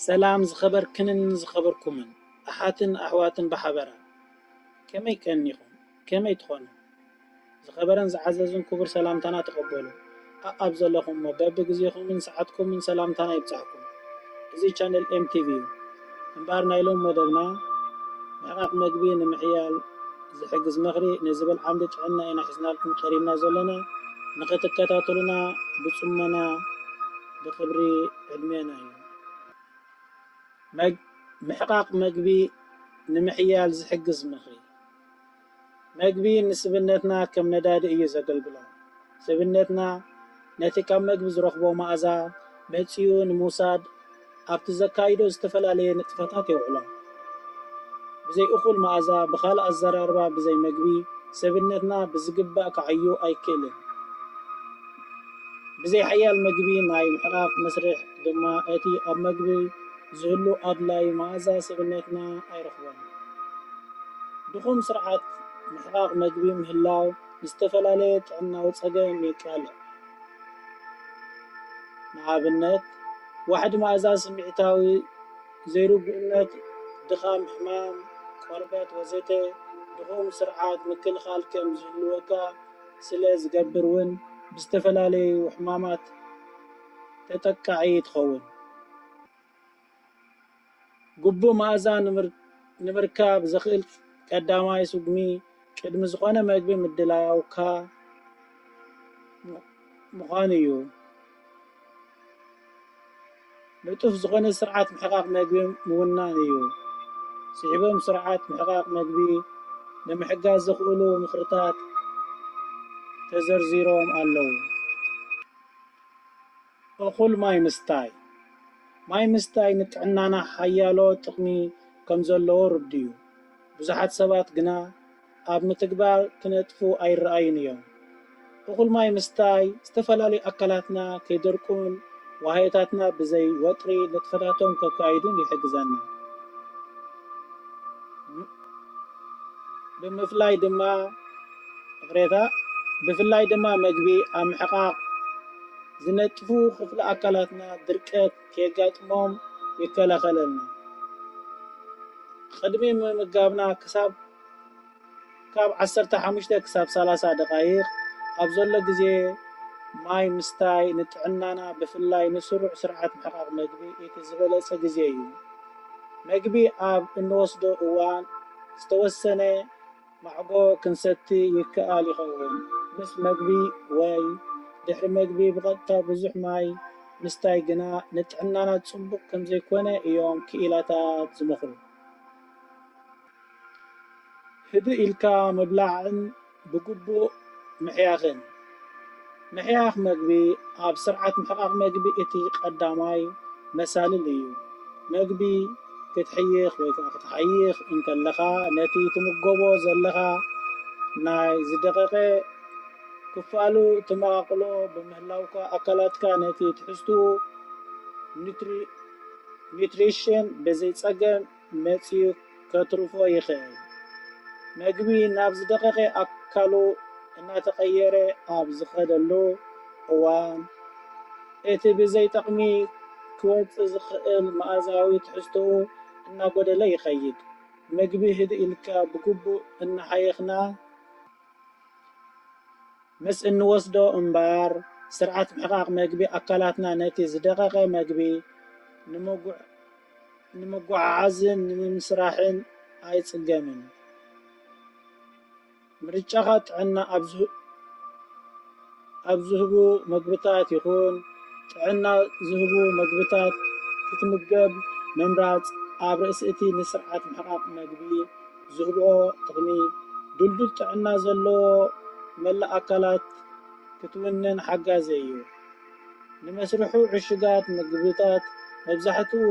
ሰላም ዝኸበርክንን ዝኸበርኩምን ኣሓትን ኣሕዋትን ብሓበራ ከመይ ቀኒኹም ከመይ ትኾኑ ዝኸበረን ዝዓዘዝን ኩቡር ሰላምታና ተቐበሉ ኣኣብ ዘለኹሞ በቢ ግዜኹምን ሰዓትኩምን ሰላምታና ይብጻሕኩም እዚ ቻነል ኤም ቲቪ እዩ እምበኣር ናይ ሎሚ መደብና ምሕቓቕ መግቢ ንምሕያል ዝሕግዝ ምኽሪ ንዝብል ዓምዲ ጥዕና ኢና ሒዝናልኩም ቀሪብና ዘሎና ንኽትከታተሉና ብጽሞና ብክብሪ ዕድሜና እዩ። መግ ምሕቃቅ መግቢ ንምሕያል ዝሕግዝ ምኽሪ። መግቢ ንስብነትና ከም ነዳዲ እዩ ዘገልግሎ። ስብነትና ነቲ ካብ መግቢ ዝረኽቦ መኣዛ መጺኡ ንምውሳድ ኣብቲ ዘካይዶ ዝተፈላለየ ንጥፈታት የውዕሎም። ብዘይ እኹል መኣዛ፣ ብኻልእ ኣዘራርባ ብዘይ መግቢ፣ ሰብነትና ብዝግባእ ክዓዩ ኣይክእልን። ብዘይ ሓያል መግቢ ናይ ምሕቓቕ መስርሕ ድማ እቲ ኣብ መግቢ ዝህሉ ኣድላዪ መኣዛ ሰብነትና ኣይረኽቦን። ድኹም ስርዓት ምሕቓቕ መግቢ ምህላው ንዝተፈላለየ ጥዕናዊ ጸገም የቃልዕ። ንኣብነት፣ ዋሕዲ መኣዛ ስምዒታዊ ዘይርጉእነት፣ ድኻም፣ ሕማም ቆርበት ወዘተ ድኹም ስርዓት ምክልኻል ከም ዝህልወካ ስለ ዝገብር እውን ብዝተፈላለዩ ሕማማት ተጠቃዒ ትኸውን። ግቡእ መኣዛ ንምርካብ ዘኽእል ቀዳማይ ስጉሚ ቅድሚ ዝኾነ መግቢ ምድላውካ ምዃኑ እዩ። ንጡፍ ዝኾነ ስርዓት ምሕቓቕ መግቢ ምውናን እዩ። ስዒቦም ስርዓት ምሕቓቕ መግቢ ንምሕጋዝ ዘኽእሉ ምኽርታት ተዘርዚሮም ኣለዉ። እኹል ማይ ምስታይ፣ ማይ ምስታይ ንጥዕናና ሓያሎ ጥቕሚ ከም ዘለዎ ርዱእ'ዩ። ብዙሓት ሰባት ግና ኣብ ምትግባር ክነጥፉ ኣይረኣዩን እዮም። እኹል ማይ ምስታይ ዝተፈላለዩ ኣካላትና ከይደርቁን ዋህዮታትና ብዘይ ወጥሪ ንጥፈታቶም ከካይዱን ይሕግዘና። ብምፍላይ ድማ። እቕሬታ ብፍላይ ድማ መግቢ ኣብ ምሕቓቕ ዝነጥፉ ክፍሊ ኣካላትና ድርቀት ከየጋጥሞም ይከላኸለልና። ቕድሚ ምምጋብና ክሳብ ካብ ዓሰርተ ሓሙሽተ ክሳብ ሰላሳ ደቓይቕ ኣብ ዘሎ ግዜ ማይ ምስታይ ንጥዕናና ብፍላይ ንስሩዕ ስርዓት ምሕቓቕ መግቢ እቲ ዝበለፀ ግዜ እዩ። መግቢ ኣብ እንወስዶ እዋን ዝተወሰነ። ማዕጎ ክንሰቲ ይከኣል ይኸውን ምስ መግቢ ወይ ድሕሪ መግቢ ብቐጥታ ብዙሕ ማይ ምስታይ ግና ንጥዕናና ጽቡቕ ከምዘይኮነ እዮም ክኢላታት ዝመኽሩ። ህድእ ኢልካ ምብላዕን ብግቡእ ምሕያኽን። ምሕያኽ መግቢ ኣብ ስርዓት ምሕቓቕ መግቢ እቲ ቀዳማይ መሳልል እዩ። መግቢ ክትሕይኽ ወይ ከኣ ክትሓይኽ እንከለኻ ነቲ ትምገቦ ዘለኻ ናይ ዝደቐቐ ክፋሉ ትመቓቕሎ ብምህላውካ ኣካላትካ ነቲ ትሕዝትኡ፣ Nutrition፣ ብዘይ ጸገም መጺኡ ከትርፎ ይኽእል። መግቢ ናብ ዝደቐቐ ኣካሉ እናተቐየረ ኣብ ዝኸደሉ እዋን፣ እቲ ብዘይ ጠቕሚ ክወጽእ ዝኽእል መኣዛዊ ትሕዝቶኡ እናጎደለ ይኸይድ። መግቢ ህድእ ኢልካ ብግቡእ እናሓየኽና ምስ እንወስዶ እምበኣር፣ ስርዓት ምሕቓቕ መግቢ ኣካላትና ነቲ ዝደቐቐ መግቢ ንምጕዕ፣ ንምጉዕዓዝን ንምምስራሕን ኣይጽገምን። ምርጫኻ ጥዕና ኣብ ዝህቡ መግብታት ይኹን ጥዕና ዝህቡ መግብታት ክትምገብ ምምራጽ ኣብ ርእሲ እቲ ንስርዓት ምሕቓቕ መግቢ ዝህብኦ ጥቕሚ፣ ድልዱል ጥዕና ዘለዎ መላእ ኣካላት ክትውንን ሓጋዚ እዩ። ንመስርሑ ዕሹጋት ምግብታት መብዛሕትኡ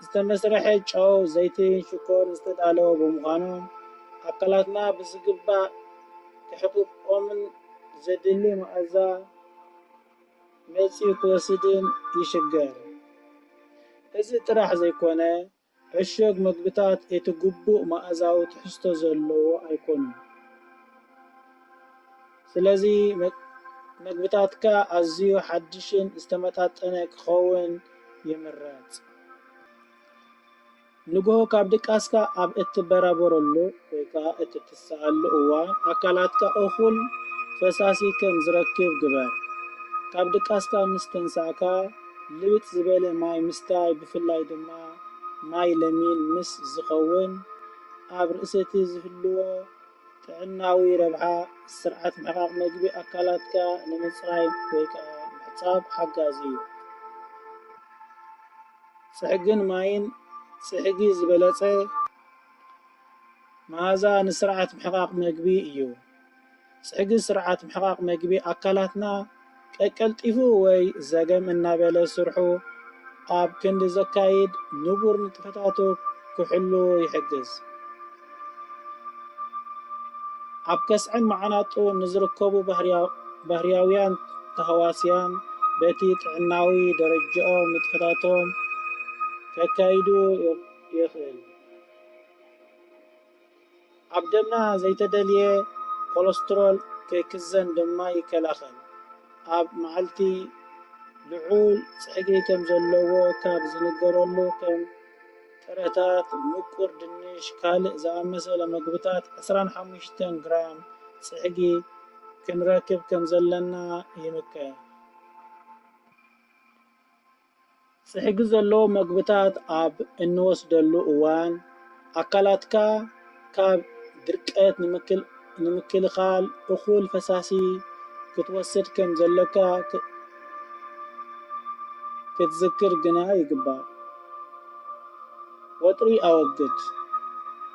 ዝተመስርሐ ጨው፣ ዘይቲን ሽኮርን ዝተዳለወ ብምዃኑ፣ ኣካላትና ብዝግባእ ክሕቅቖምን ዘድሊ መኣዛ መጺኡ ክወስድን ይሽገር። እዚ ጥራሕ ዘይኮነ፣ ዕሹግ መግብታት እቲ ግቡእ መኣዛዊ ትሕዝቶ ዘለዎ ኣይኰኑን፣ ስለዚ መግብታትካ ኣዝዩ ሓድሽን ዝተመጣጠነ ክኸውን ይምረጽ። ንግሆ ካብ ድቃስካ ኣብ እትበራበረሉ ወይ ከኣ እትትስእ። ትረስዓሉ እዋን ኣካላትካ እኹል ፈሳሲ ከም ዝረክብ ግበር። ካብ ድቃስካ ምስ ተንሳእካ ልብጥ ዝበለ ማይ ምስታይ ብፍላይ ድማ ማይ ለሚን ምስ ዝኸውን ኣብ ርእሲ'ቲ ዝህልዎ ጥዕናዊ ረብሓ ስርዓት ምሕቓቕ መግቢ ኣካላትካ ንምጽራይ ወይ ከኣ ምሕጻብ ሓጋዚ እዩ። ጽሕግን ማይን ጽሕጊ ዝበለጸ። መኣዛ ንስርዓት ምሕቓቕ መግቢ እዩ። ጽሕጊ ስርዓት ምሕቓቕ መግቢ ኣካላትና ቀቀልጢፉ ወይ ዘገም እናበለ ስርሑ ኣብ ክንዲ ዘካይድ ንቡር ንጥፈታቱ ክሕሉ ይሕግዝ። ኣብ ከስዐን መዓናጡን ንዝርከቡ ባህርያውያን ተህዋስያን በቲ ጥዕናዊ ደረጃኦም ንጥፈታቶም ከካይዱ የኽእል። ኣብ ደምና ዘይተደልየ ኮለስትሮል ከይክዘን ድማ ይከላኸል። ኣብ መዓልቲ ልዑል ጸግሪ ከም ዘለዎ ካብ ዝንገረሉ ከም ጥረታት፣ ምቁር ድንሽ፣ ካልእ ዝኣመሰለ መግብታት ዕስራን ሓሙሽተን ግራም ጽሕጊ ክንረክብ ከም ዘለና ይምከር። ጽሕጊ ዘለዎ መግብታት ኣብ እንወስደሉ እዋን፣ ኣካላትካ ካብ ድርቀት ንምክልኻል እኹል ፈሳሲ ክትወስድ ከም ዘሎካ ክትዝክር ግና ይግባእ። ወጥሪ ኣወግድ፣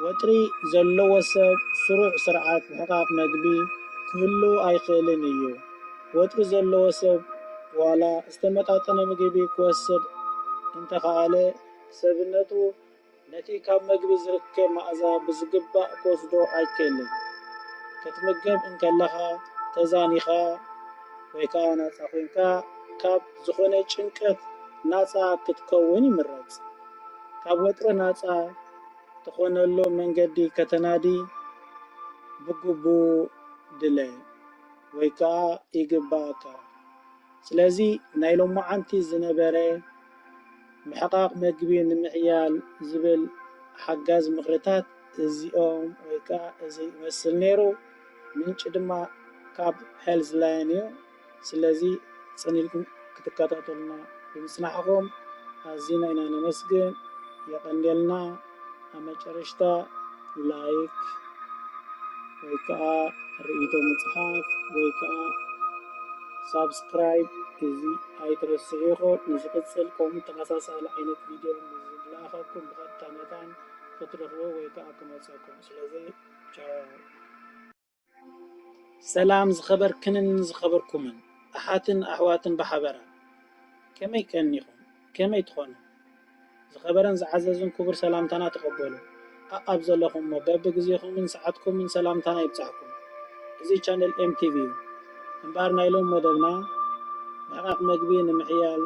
ወጥሪ ዘለዎ ሰብ ስሩዕ ስርዓት ምሕቃቕ መግቢ ክህልዎ ኣይክእልን እዩ። ወጥሪ ዘለዎ ሰብ ዋላ ዝተመጣጠነ ምግቢ ክወስድ እንተኸኣለ፣ ሰብነቱ ነቲ ካብ መግቢ ዝርከብ መኣዛ ብዝግባእ ክወስዶ ኣይክእልን። ክትምገብ እንከለኻ ተዛኒኻ ወይ ከኣ ናጻ ኮይንካ ካብ ዝኾነ ጭንቀት ናጻ ክትከውን ይምረጽ። ካብ ወጥሪ ናጻ ትኾነሉ መንገዲ ከተናዲ ብግቡእ ድለ ወይ ከኣ ይግበኣካ። ስለዚ ናይ ሎማዓንቲ ዝነበረ ምሕቓቕ መግቢ ንምሕያል ዝብል ሓጋዚ ምኽርታት እዚኦም ወይ ከኣ እዚ ይመስል ነይሩ። ምንጪ ድማ ካብ Health Line እዩ። ስለዚ ጽን ኢልኩም ክትከታተሉና ብምጽናሕኹም ኣዚና ኢና ነመስግን። የቐንየልና። ኣብ መጨረሽታ ላይክ ወይ ከዓ ርእይቶ ምፅሓፍ ወይ ከዓ ሳብስክራይብ እዚ ኣይትረስዑ ኢኹ ንዝቕፅል ከምኡ ተመሳሳሊ ዓይነት ቪድዮ ዝለኣኸኩም ብቐጥታ መታን ክትረኽቡ ወይ ከዓ ክመፀኩም ስለዚ ቻው ሰላም ዝኸበርክንን ዝኸበርኩምን ኣሓትን ኣሕዋትን ብሓበራ ከመይ ቀኒኹም ከመይ ትኾኑ ዝኸበረን ዝዓዘዝን ክቡር ሰላምታና ተቐበሉ ኣኣብ ዘለኹሞ በቢ ግዜኹምን ሰዓትኩምን ሰላምታና ይብጻሕኩም እዚ ቻነል ኤምቲቪ እዩ እምበኣር ናይ ሎም መደብና ምሕቃቕ መግቢ ንምሕያል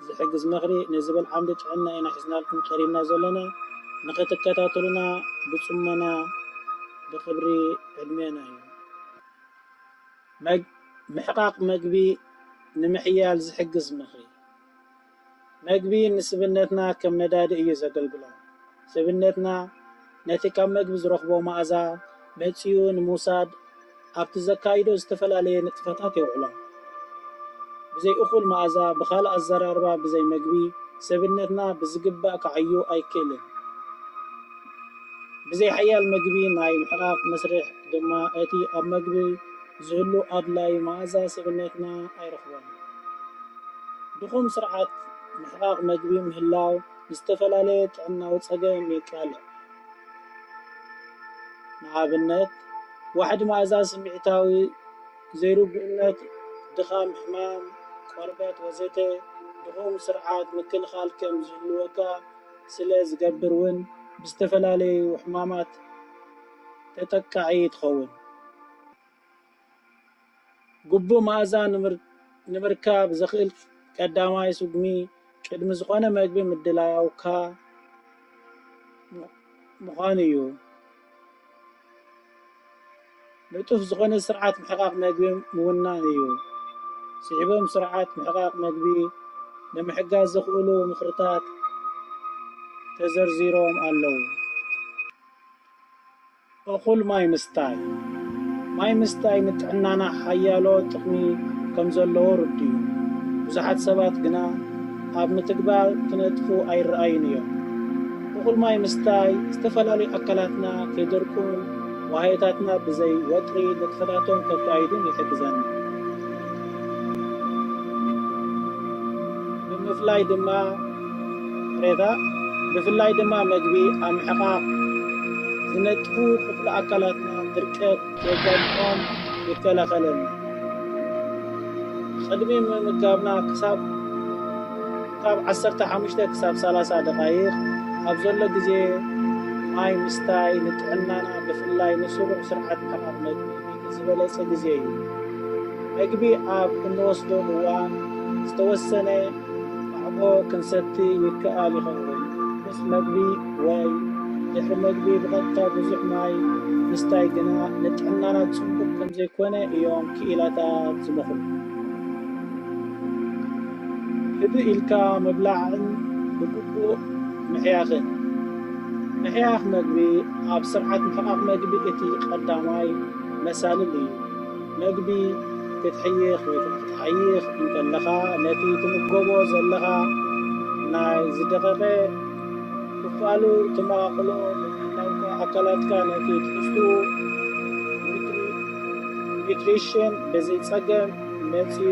ዝሕግዝ ምኽሪ ንዝብል ዓምዲ ጥዕና ኢና ሒዝናልኩም ቀሪብና ዘሎና ንኽትከታተሉና ብጽሞና ብክብሪ ዕድሜና እዩ። መግ፣ ምሕቃቕ መግቢ ንምሕያል ዝሕግዝ ምኽሪ። መግቢ ንስብነትና ከም ነዳዲ እዩ ዘገልግሎ። ስብነትና ነቲ ካብ መግቢ ዝረኽቦ መኣዛ መጺኡ ንምውሳድ ኣብቲ ዘካይዶ ዝተፈላለየ ንጥፈታት የውዕሎ። ብዘይ እኹል መኣዛ፣ ብኻልእ ኣዘራርባ ብዘይ መግቢ፣ ስብነትና ብዝግባእ ክዓዩ ኣይክእልን። ብዘይ ሓያል መግቢ ናይ ምሕቓቕ መስርሕ ድማ እቲ ኣብ መግቢ ዝህሉ ኣድላዪ መኣዛ ሰብነትና ኣይረኽቦን። ድኹም ስርዓት ምሕቓቕ መግቢ ምህላው ንዝተፈላለየ ጥዕናዊ ጸገም የቃልዕ። ንኣብነት ዋሕዲ መኣዛ፣ ስምዒታዊ ዘይርጉእነት፣ ድኻም፣ ሕማም ቆርበት ወዘተ ድኹም ስርዓት ምክልኻል ከም ዝህልወካ ስለ ዝገብር እውን ብዝተፈላለዩ ሕማማት ተጠቃዒ ትኸውን። ግቡእ መኣዛ ንምርካብ ዘኽእል ቀዳማይ ስጉሚ ቅድሚ ዝኾነ መግቢ ምድላውካ ምዃኑ እዩ። ንጡፍ ዝኾነ ስርዓት ምሕቓቕ መግቢ ምውናን እዩ። ስዒቦም ስርዓት ምሕቓቕ መግቢ ንምሕጋዝ ዘኽእሉ ምኽርታት ተዘርዚሮም ኣለዉ። እኹል ማይ ምስታይ፣ ማይ ምስታይ ንጥዕናና ሓያሎ ጥቕሚ ከምዘለዎ ርዱእ'ዩ። ብዙሓት ሰባት ግና፣ ኣብ ምትግባር ክነጥፉ ኣይረኣዩን እዮም። እኹል ማይ ምስታይ፣ ዝተፈላለዩ ኣካላትና ከይደርቁን ዋህዮታትና ብዘይ ወጥሪ ንጥፈታቶም ከካይዱን ይሕግዘና። ብምፍላይ ድማ ሬታ ብፍላይ ድማ መግቢ ኣብ ምሕቓቕ ዝነጥፉ ክፍሊ ኣካላትና ድርቀት፣ ተጸብዖን ይከላኸለልና። ቅድሚ ምምጋብና ክሳብ ካብ ዓሰርተ ሓሙሽተ ክሳብ ሰላሳ ደቓይቕ ኣብ ዘሎ ግዜ ማይ ምስታይ ንጥዕናና ብፍላይ ንስሩዕ ስርዓት ምሕቓቕ መግቢ እቲ ዝበለጸ ግዜ እዩ። መግቢ ኣብ እንወስደሉ እዋን ዝተወሰነ ቃዕቦ ክንሰቲ ይከኣል ይኸውን ምስ መግቢ ወይ ድሕሪ መግቢ ብቐጥታ ብዙሕ ማይ ምስታይ ግና ንጥዕናና ጽቡቕ ከምዘይኮነ እዮም ክኢላታት ዝመኽሩ። ህድእ ኢልካ ምብላዕን ብግቡእ ምሕያኽን። ምሕያኽ መግቢ ኣብ ስርዓት ምሕቓቕ መግቢ እቲ ቀዳማይ መሳልል እዩ። መግቢ ክትሕይኽ ወይ ከኣ ክትሓይኽ እንከለኻ ነቲ ትምገቦ ዘለኻ ናይ ዝደቐቐ ክፋሉ ትመቓቕሎ ብምህላውካ ኣካላትካ ነቲ ትሕዝትኡ ኒዩትሪሽን ብዘይጸገም መጺኡ